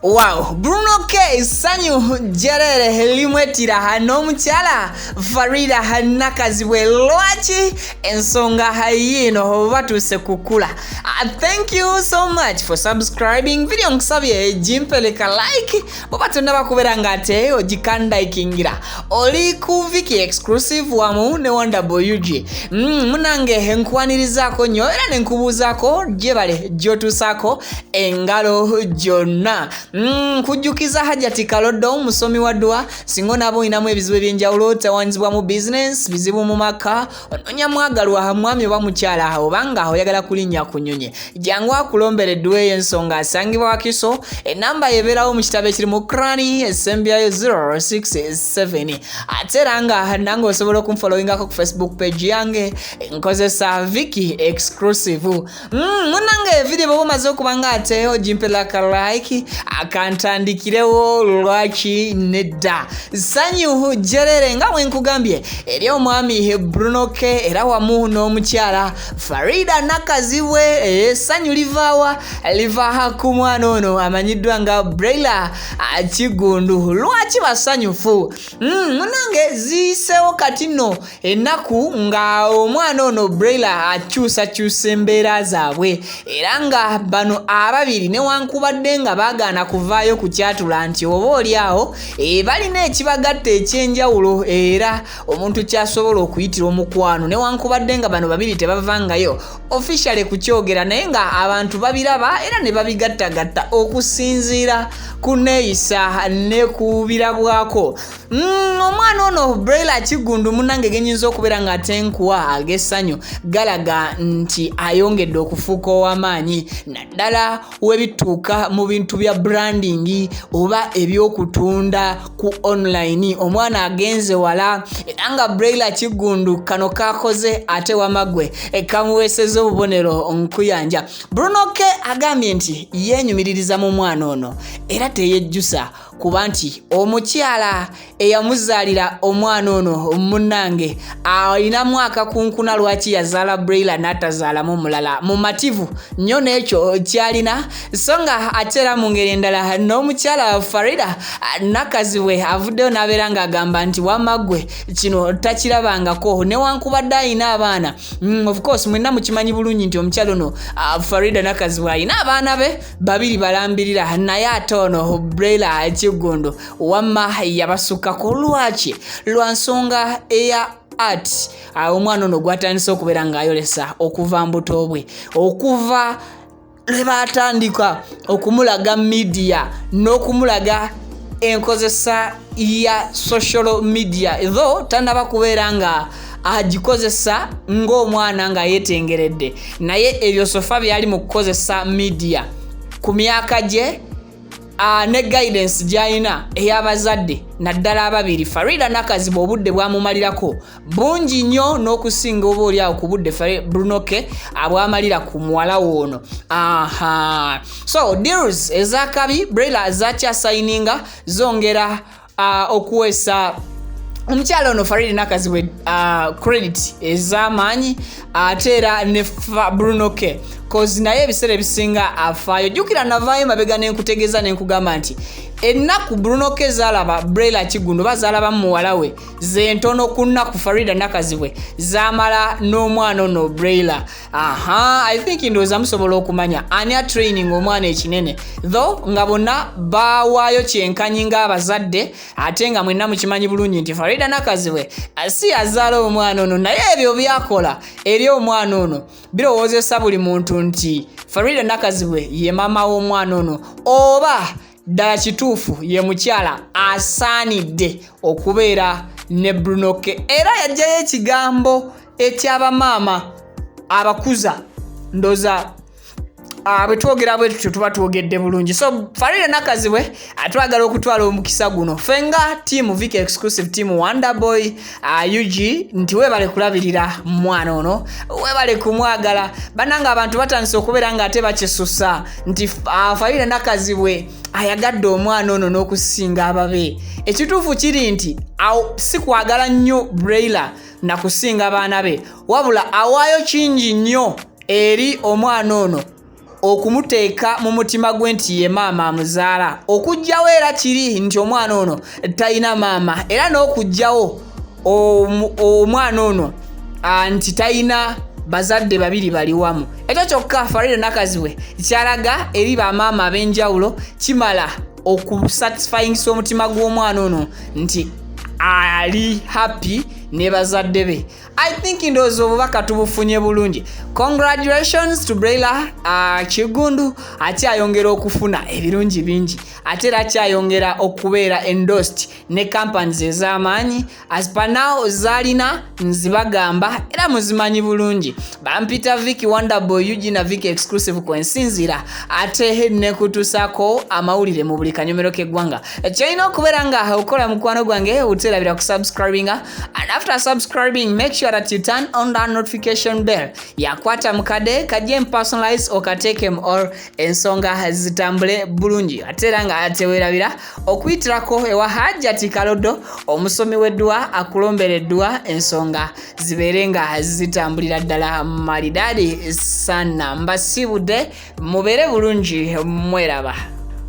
Wow, Bruno K sanyu jerere limwetira hano mukyala Farida hanakazibwe lwaki ensonga hayino batuse kukula. Uh, thank you so much for subscribing video nkusabye jimpeleka like bwoba tonnaba kubeera ng'ate ogikandayikingira oli ku viki exclusive wamu ne wonderboy ug mm, munange enkwanirizaako nnyo era ne nkubuuzaako gyebale gyotuusaako engalo gyonna mm, kujjukiza hajati kaloddo musomi wa dduwa singa onaaba olinamu ebizibu eby'enjawulo tewanyizibwa mu bizinensi bizibu mu maka ononya mwagalwa ha mwami oba mukyala ha obanga oyagala kulinnya ku nyonyi jangu akulombere eddwa eyo ensonga asangibwa wakiso enamba yebeerawo mu kitabo ekirimu krani esembyayo 067 ate era nga nange osobola okumfolowingako ku facebook page yange nkozesa viki exclusive Mm, munange video bwoba omaze okuba nga ate ogimpela ka like akantandikirewo lwaki nedda sanyuhu jerere nga wenkugambye eri omwami bruno ke era wamu n'omukyala farida nakazibwe esanyu eh, livaawa livaha ku mwana ono amanyiddwa nga braila kigundu lwaki basanyufu mm, munange ziyisewo kati no ennaku nga omwana ono braila akyusakyusa embeera zaabwe era nga bano ababiri newankubadde nga baagaana kuvaayo ku kyatula nti oba oli awo e, balina ekibagatta ekyenjawulo era omuntu kyasobola okuyitira omukwano newankubadde nga bano babiri tebavangayo officiale kukyogera naye nga abantu babiraba era ne babigattagatta okusinziira ku neeyisa ne kubirabwako Mm, omwana ono braila kigundu munange genyinza okubeera nga tenkuwa agesanyo galaga nti ayongedde okufuuka owamaanyi naddala webituuka mu bintu bya branding oba ebyokutunda ku online omwana agenze wala era nga braila kigundu kano kakoze ate wamagwe e, kamuweeseza obubonero nkuyanja brunoke agambye nti yenyumiririza mu mwana ono era teyejjusa kuba nti omukyala eyamuzaalira omwana ono munnange alinamu akakunkuna lwaki yazaala braila n'atazaalamu mulala mumativu nnyo n'ekyo kyalina so nga ate era mu ngeri endala n'omukyala farida nakazibwe avuddeyo n'abeera ng'agamba nti wamaggwe kino takirabangako newankubadde alina abaana mm, ofcourse mwenna mukimanyi bulungi nti omukyala ono farida nakazibwe alina abaana be babiri balambirira naye ate ono brela ekiggundu wamma yabasukkako lwaki lwa nsonga eya art ah, omwana ono gwatandise okubeera ng'ayolesa okuva mbuto bwe okuva lwe baatandika okumulaga midiya n'okumulaga enkozesa ya social media though tanaba kubeera nga agikozesa ng'omwana nga yetengeredde naye ebyo sofa byali mu kukozesa midiya ku myaka gye ne guidance gyalina ey'abazadde naddala ababiri farida nakaziba obudde bwamumalirako bungi nnyo n'okusinga oba oli awo ku budde brunoke abwamalira ku muwala woono aha so deals ezakabi brela zakyasayininga zongera uh, okuweesa omukyala ono faridi nakazibwe uh, credit ez'amaanyi ate era ne bruno k cause naye ebiseera ebisinga afaayo jjukira navaayo mabega nenkutegeeza nenkugamba nti ennaku bruno k zaalaba brela kigundo oba zaalaba mu muwala we zentono ku nnaku farida nakazibwe zaamala n'omwana ono brela aha i think ndowooza musobola okumanya ani atraining omwana ekinene tho nga bonna bawaayo kyenkanyi ng'abazadde ate nga mwenna mukimanyi bulungi nti farida nakazibwe si azaala omwana ono naye ebyo byakola eri omwana ono birowoozesa buli muntu nti farida nakazibwe ye maama w'omwana ono oba ddala kituufu ye mukyala asaanidde okubeera ne brunoke era yajjayo ekigambo ekyabamaama abakuza ndoza ah, bwetwogera bwetutyo tuba twogedde bulungi so farire nakazibwe atwagala okutwala omukisa guno fe nga tiamu vic exclusive tiamu wonderboy ah, ug nti webale kulabirira mwana ono webale kumwagala bananga abantu batandise okubeera nga ate bakisusa nti ah, farire nakazibwe ayagadde omwana ono n'okusinga ababe ekituufu kiri nti sikwagala nnyo brailer na kusinga baana be wabula awaayo kingi nnyo eri omwana ono okumuteeka mu mutima gwe nti ye maama amuzaala okugjawo era kiri nti omwana ono talina maama era n'okugjawo omwana ono nti talina bazadde babiri bali wamu ekyo kyokka farida nakazibwe kyalaga eri bamaama ab'enjawulo kimala okusatisfyingisa omutima gw'omwana ono nti ali happy ne bazadde be i think ndowooza obubaka tubufunye bulungi congratulations to braila uh, kigundu akyayongera okufuna ebirungi bingi ate era akyayongera okubeera endost ne companies ez'amaanyi as per now zalina nzibagamba era muzimanyi bulungi bampita viki wonderboy ug na viki exclusive kwensinzira ate nekutusako amawulire mu buli kanyomero k'eggwanga kyolina okubeera nga okola mukwano gwange uterabira ku subscribinga and after subscribing make sure that you turn on the notification bell yakwata mukade kajje mpersonalize okatekem or ensonga zitambule bulungi ate era nga tewerabira okuyitirako ewa hajjati kalodo omusomi w'edduwa akulombera edduwa ensonga zibeere nga zitambulira ddala malidaadi sana mbasiibudde mubeere bulungi mweraba